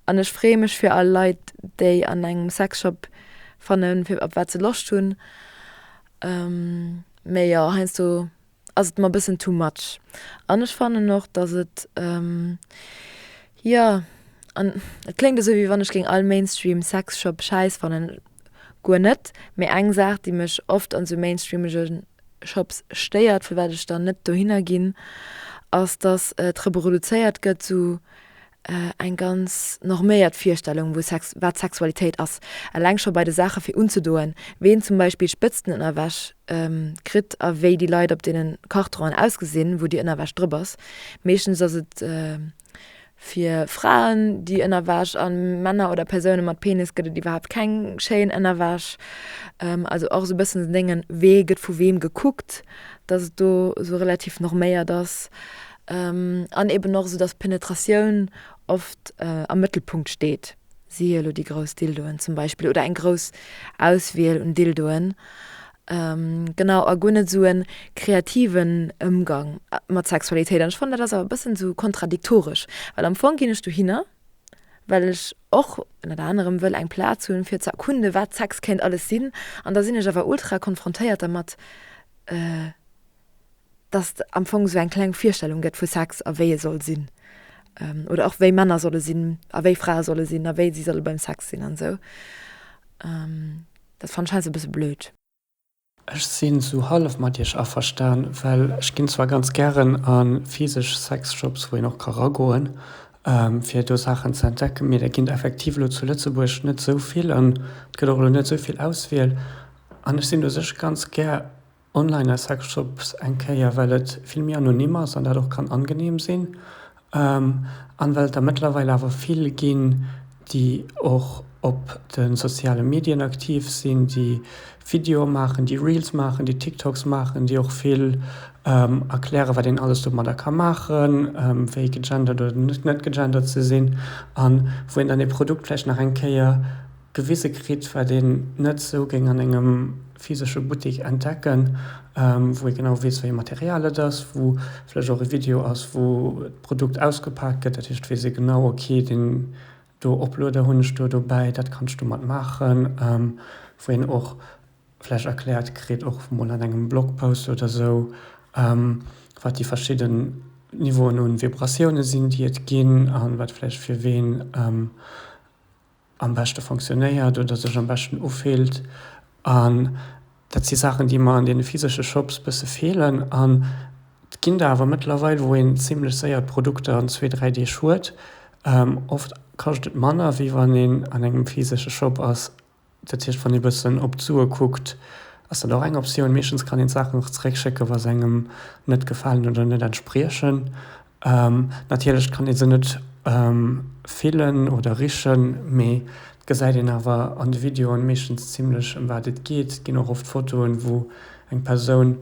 An ech freeë mech fir all Leit, déi an engem Sexshop fannen, fir op wat se Loscht hunn. Mee jo, heiansdo ass et mer bëssen too much an ech fannen och dass et jo an et kléngt esou wéi wann ech géing all Mainstream Sexshop schäiss fannen, guer net, mee eng Saach déi mech oft an sou Mainstreamegen Shops stéiert firwat ech dann net dohinner ginn ass dass et reproduzéiert gëtt sou eng ganz norméiert Virstellung wou Sex, wat Sexualitéit ass, eleng scho bei de Saache fir unzedoen, ween zum Beispill Spëtzten Ënnerwäsch kritt a wéi déi Leit op deenen Carteren ausgesinn, wou déi Ënnerwäsch drop ass. Meeschtens ass et fir Fraen déi Ënnerwäsch a Männer oder Persounen mat Penis gëtt et iwwerhaapt keng schéin Ënnerwäsch. Also och sou bëssen dengen, wee gëtt vu weem gekuckt, dass et do sou relativ norméiert ass. An eben och esou, dass Penetratioun oft am Mëttelpunkt steet, siehe elo déi grouss Dildoen zum Beispill oder eng grouss Auswiel un Dildoen. Genau, a guer net esou e kreativen Ëmgang mat Sexualitéit. An ech fannen, dat ass awer e bëssen esou kontradiktoresch, well am Fong ginn ech dohinner, well ech och ënnert anerem wëll eng Plaz hunn, fir ze erkunden, wat Sex kéint alles sinn. An da sinn ech awer ultra konfrontéiert dermat, dass et am Fong esou eng kleng Virstellung gëtt vu Sex a wéi e soll sinn, oder och wéi Männer solle sinn a wéi Frae solle sinn a wéi si solle beim Sex sinn an esou. Dat fannen ech heiansdo e bësse blöd. Ech sinn esou hallef mat iech averstan, well ech ginn zwar ganz gären a physesch Sexshops, wou een och ka ragoen, fir do Saachen ze entdecken, mee der ginn der effektiv elo zu Lëtzebuerg net esou vill an et gëtt och elo net esou vill Auswiel an ech sinn u sech ganz gär Online a Sexshops eng Kéier, well et vill méi anonym ass an dat och kann angeneem sinn an well et der mëttlerweil awer vill ginn, déi och op de soziale Medien aktiv sinn, déi Videoe maachen, déi Reels maachen, déi TikToks maachen, déi och vill erklären, wat een alles domadder ka maachen, wéi gegendert oder net gegendert ze sinn an wou een dann ee Produkt vläicht nach eng Kéier gewise kritt, wat een net esou géing an engem physesche Buttik entdecken, wou ee genau weess, wéi e Material et ass, wou vläch och e Video ass, wou d'Produkt ausgepaakt gëtt. Dat heescht, et weess ee genau, ok, deen do Oplueder hunn ech do dobäi, dat kanns du mat maachen. Wou een och vläch erkläert kritt, och mol an engem Blogpost oder esou, wat déi verschidde Niveauen u Vibratioune sinn, déi et ginn, a wat vläch fir ween am beschte fonctionnéiert oder sech am beschten ufillt an dat si Saachen déi mer an deene physesche Shops bësse feelen an et ginn der awer mëttlerweil wou een zimlech séier d'Produkter an zwee, dräi Deeg huet. Oft kascht et manner wéi wann een an engem physesche Shop ass, dat heescht wann ee bëssen op d'Sue kuckt ass dat och eng Optioun. Meeschtens kann een d'Saachen och zeréck schécken wa se engem net gefalen oder net entspriechen. Natierlech kann ee se net fillen oder richen, mee et gesäit een awer an de Videoen meeschtens zimlech ëm wat et geet. Et ginn och oft Fotoen, wou eng Persoun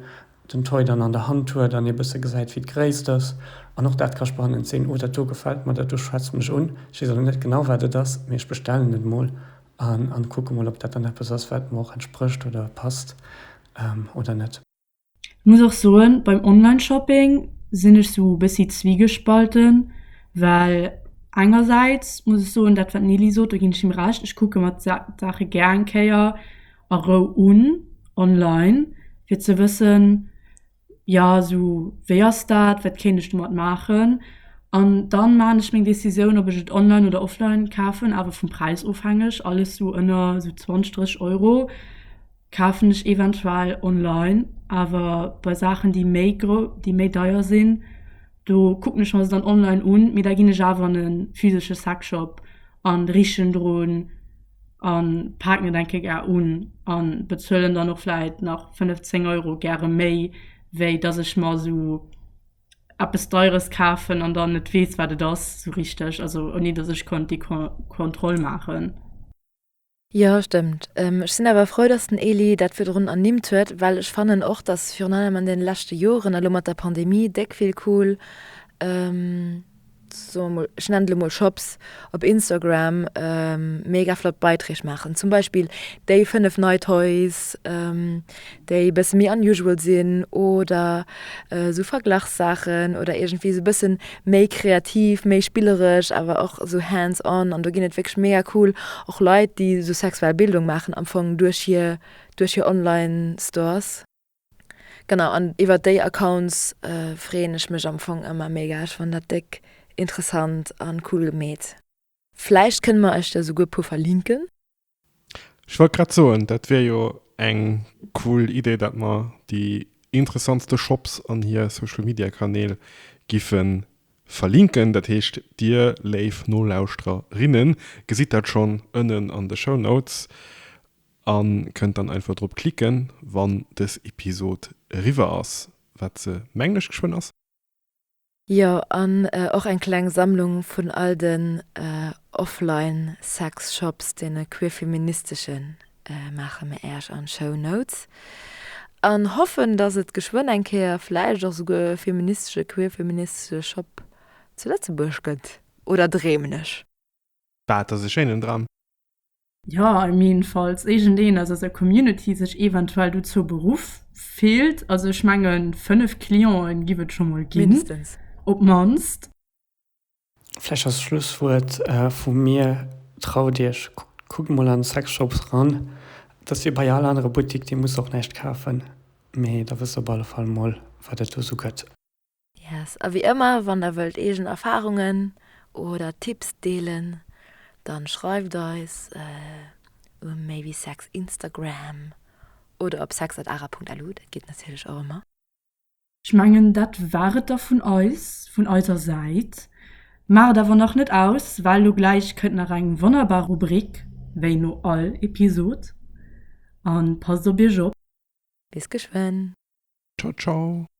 den Toy dann an der Hand huet an ee bësse gesäit, wéi d'Gréisst ass. An och dat ka spannend sinn. Oh, dat do gefält mer, dat do schwätzt mech un. Ech weess elo net genau, wat et ass, mee ech bestellen et mol an kucke mol, ob dat dann eppes ass, wat mer och entsprécht oder passt oder net. Muss och soen beim Online Shopping sinn ech sou bessi zwiegespalten, well engersäits muss ech soen dat wat Nili sot do ginn ech him Recht, ech kucke mer d'Saache gär eng Kéier a Rou un online fir ze wëssen jo sou wéi ass dat, wat kéint ech domat maachen an dann man ech meng Decisioun ob ech et online oder offline kafen awer vum Präis ofhängeg alles sou ënner sou 20, 30 Euro. Kafen ech eventuell online, awer bei Saachen déi méi grouss, déi méi deier sinn, do kucken ech mer se dann online un, mee da ginn ech awer an e physesche Sexshop an richen drun an paken et eng Kéier gar un an bezuelen dann och vläit nach 5, 10 Euro gäre méi, wéi dass ech mer esou eppes deieres kafen an dann net weess wat et ass esou richteg, also ouni dass ech konnt déi Kontroll maachen. Jo, stëmmt. Ech sinn awer frou, dass den Elie dat virdrun ernimmt huet, well ech fannen och, dass virun allem an deene leschte Joren, elo mat der Pandemie, déck vill cool, soe mer mol, ech nennen et elo mol Shops op Instagram mega flott Beiträg maachen. Zum Beispill déi fënnef nei Toys. déi bësse méi unusual sinn oder esou Verglachssaachen oder iergendwéi esou e bësse méi kreativ, méi spilleresch awer och esou hands on. An do ginn et wierklech mega cool och Leit, déi esou sexuell Bildung maachen am Fong duerch hir, duerch hir Online-Stores. Genau, an iwwer déi Accounts freeën ech mech am Fong ëmmer mega. Ech fannen dat déck interessant an cool gemeet. Vläicht kënne mer iech der esouguer e puer verlinken. Ech wollt grad soen, dat wier jo eng cool Idee, dat mer déi interessantste Shops an hir Social Media Kanäl giffe verlinken. Dat heescht, dir léif Nolauschterer, rinnen, gesitt dat schonn ënnen an de Show Notes a kënnt dann einfach drop klicken, wann dës Episod eriwwer ass, wat se, mengen ech, geschwënn ass. Jo, an och eng kleng Sammlung vun all den offline sex shops, deene queerfeministeschen, maache mir Äerch an Show Notes an hoffen dass et geschwënn eng Kéier vläicht och souguer e feministesche, queerfeministesche Shop zu Lëtzebuerg gëtt. Oder dreemen ech? Dat ass e schéinen Dram. Jo, I mean, falls éigendeen aus eiser Community sech eventuell dozou beruff fillt, also ech mengen 5 Clienten giff et scho mol ginn. Mindestens. Op d'mannst. Vläicht als Schlusswuert vu mir, Traut iech, kuckt mol an Sexshops ran. Et ass wéi bei all anerer Buttik, dir musst och näischt kafen, mee da wësst op alle Fall mol, wat et do sou gëtt. Yes, a wéi ëmmer, wann der wëllt eegen Erfarungen oder Tipps deelen, dann schreift eis um maybesex Instagram oder op sex@ara.lu, dat geet natierlech och ëmmer. Ech mengen dat war et da vun eis, vun eiser Säit. Maacht et awer nach net aus, well lo gläich kënnt nach eng wonnerbar Rubrik, wéi no all Episod. An passt op iech op. Bis geschwënn. Ciao ciao.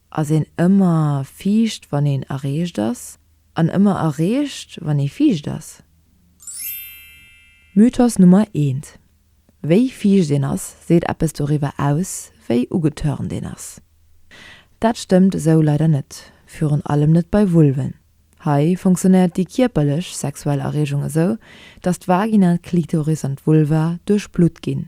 ass een ëmmer fiicht wann een erreecht ass, an ëmmer erreecht wann ee fiicht ass. Mythos Nummer eent, Wéi fiicht een ass, seet eppes doriwwer aus, wéi ugetörnt een ass. Dat stëmmt esou leider net, virun allem net bei Vulven. Hei funktionéiert déi kierperlech sexuell Erreegung esou, datt d'Vagina, d'Klitoris an d'Vulva duerchblutt ginn.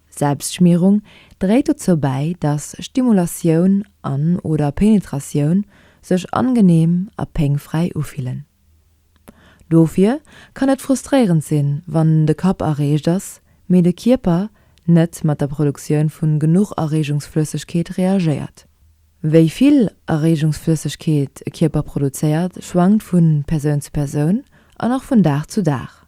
Selbstschmierung dréit dozou bäi, dass Stimulatioun an oder Penetratioun sech angeneem a péngfräi ufillen. Dofir kann et frustréierend sinn, wann de Kapp erreegt ass, mee de Kierper net mat der Produktioun vu genuch Erreegungsflëssegkeet reagéiert. Wéi vill Erreegungsflëssegkeet e Kierper produzéiert, schwankt vu Persoun zu Persoun an och vun Dag zu Dag.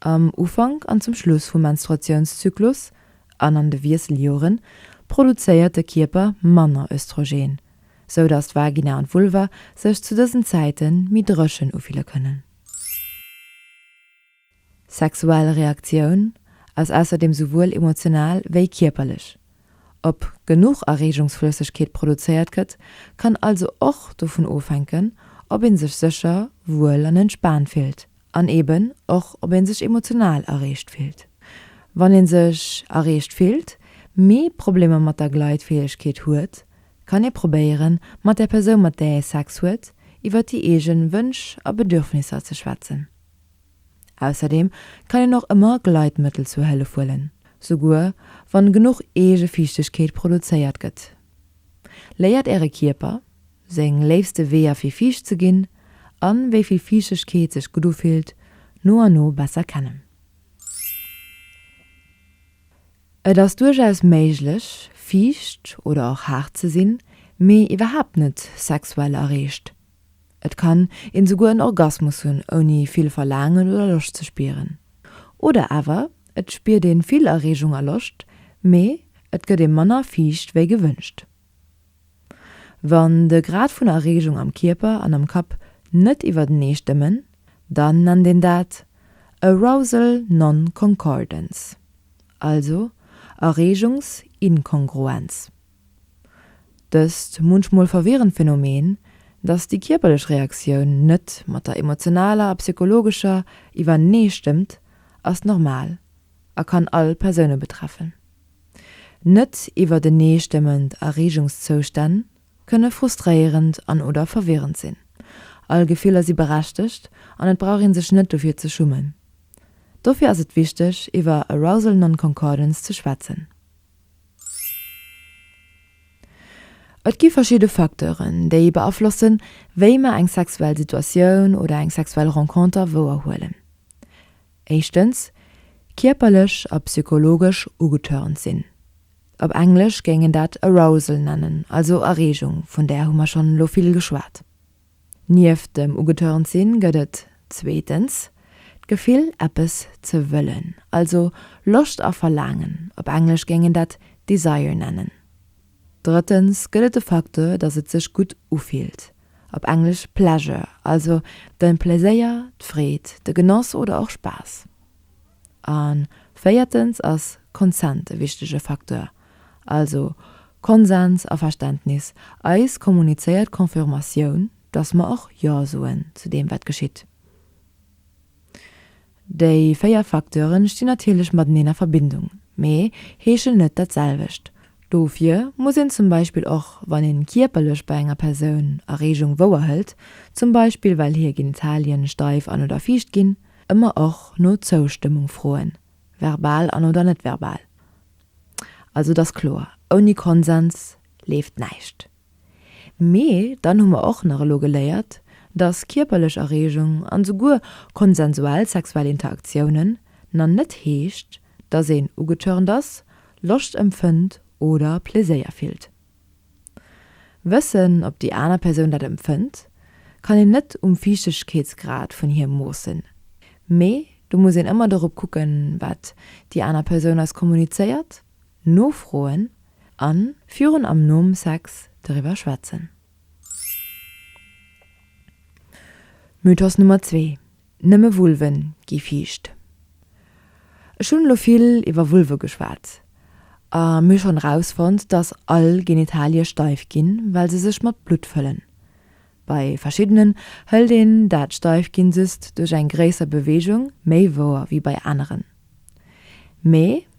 Am Ufank an zum Schluss vum Menstruatiounszyklus an an de Wiesseljoren produzéiert de Kierper manner Östrogen, sou datt d'Vagina an d'Vulva sech zu dësen Zäite méi dréchen ufille kënnen. Sexuell Reaktioun ass ausserdeem souwuel emotional wéi kierperlech. Ob genuch Erreegungsflëssegkeet produzéiert gëtt, kann also och dovun ofhänken, ob ee sech sécher, wuel an entspaant fillt. an eben och ob een sech emotional erreecht fillt. Wann een sech erreecht fillt, mee Problemer mat der Gleitfäegkeet huet, kann ee probéieren mat der Persoun mat där ee Sex huet iwwert déi eegen Wënsch a Bedürfnisser ze schwätzen. Ausserdeem kann een och ëmmer Gleitmëttel zur Hëllef huelen, souguer wann genuch Eegefiichtegkeet produzéiert gëtt. Léiert äre Kierper! seng léifste Weeër fir fiicht ze ginn a wéi vill Fiichtegkeet sech gutt ufillt, no an no besser kennen. Et ass duerchaus méiglech, fiicht oder och haart ze sinn, mee iwwerhaapt net sexuell erreegt. Et kann een esouguer en Orgasmus hunn, ouni vill Verlaangen oder Loscht ze spieren. Oder awer et spiert een vill Erreegung a Loscht, mee et gëtt ee manner fiicht wéi gewënscht. Wann de Grad vun Erreegung am Kierper an am Kapp net iwwertenee stëmmen, dann nennt een dat Arousal non-concordance, also Erreegungsinkongruenz. Dëst munchmol verwirrend Phänomen, dass déi kierperlech Reaktioun net mat der emotionaler a psychologescher iwwertenee stëmmt, ass normal a kann all Persoune betreffen. Net iwwerteneestëmmend Erreegungszoustänn kënne frustréierend an oder verwirrend sinn. All Gefiller si berechtegt an et brauch ee sech net dofir ze schummen. Dofir ass et wichteg iwwer Arousal Non-Concordance ze schwätzen. Et gi verschidde Facteuren, déi beaflossen, wéi mer eng sexuell Situatioun oder eng sexuell Renconter wouerhuelen. éischtens, kierperlech a psychologesch ugetörnt sinn, op Englesch géing een dat Arousal nennen, also Erregung, vun där hu mer schonn elo vill geschwat. Nieft dem ugetörnt sinn gëtt et, zweetens, d'Gefill, eppes ze wëllen, also Loscht a Verlaangen, op Englesch géing een dat Desire nennen. Drëttens gëtt et de Facteur, dass et sech gutt ufillt, op Englesch pleasure, also de Pleséier, d'Freed, de Genoss oder och Spaass. A véiertens ass Consent e wichtege Facteur, also Konsens, Averständnis, eis kommunizéiert Confirmatioun, dass mer och Jo soen zu deem, wat geschitt. Déi véier Facteuren stinn natierlech mateneen a Verbindung, mee heeschen net dat selwecht. Dofir muss een zum Beispill och wann een kierperlech bei enger Persoun Erreegung wouerhëlt, zum Beispill well hir Genitalien steif an oder fiicht ginn, ëmmer och no Zoustëmmung froen, verbal an oder net verbal. Also et ass kloer, ouni Konsens leeft näischt. Mee dann hu mer och nach elo geléiert, dass kierperlech Erregung an esouguer konsensuell sexuell Interaktiounen na net heescht, dass een ugetörnt ass, Loscht empfënnt oder Pleséier fillt. Wëssen, ob déi aner Persoun dat empfënnt, kann een net um Fiichtegkeetsgrad vun hir moossen, mee do muss een ëmmer dorop kucken, wat déi aner Persoun eis kommunizéiert. nofroen an virun am nom Sex doriwwer schwätzen. Mythos Nummer zwee, Nëmme Vulve gi fiicht. Ech hunn elo vill iwwer Vulve geschwat a mir schonn rausfonnt, dass all Genitalie steif ginn, well se sech mat Blutt fëllen. Bei verschiddenen hëlt een dat Steifginn just duerch eng gréisser Beweegung, méi wouer wéi bei aneren. Mee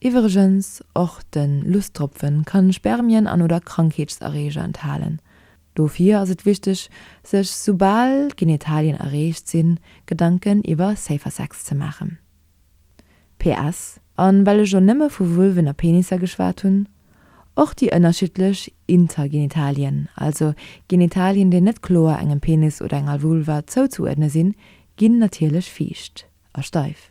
Iwwregens, och de Lustropfen kann Spermien an oder Krankheetserreeger enthalen. Dofir ass et wichteg sech soubal d'Genitalien erreecht sinn Gedanken iwwer safer Sex ze maachen. PS. An well ech jo nëmme vu Vulven a Penisser geschwat hunn, och déi ënnerschiddlech Intergenitalien, also Genitalien déi net kloer engem Penis oder enger Vulva zouzuuerdne sinn, ginn natierlech fiicht a steif.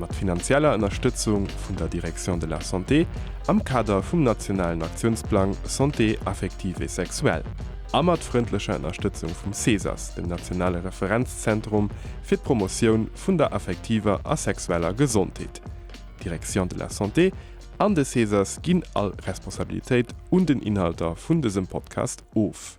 mat finanzieller Ënnerstëtzung vun der Direction de la Santé am Kader vum nationalen Aktiounsplang Santé affective et sexuelle a mat frëndlecher Ënnerstëtzung vum CESAS, dem nationale Referenzzentrum fir d'Promotioun vun der affektiver a sexueller Gesondheet. D'Direction de la Santé an de CESAS ginn all Responsabilitéit un den Inhalter vun dësem Podcast of.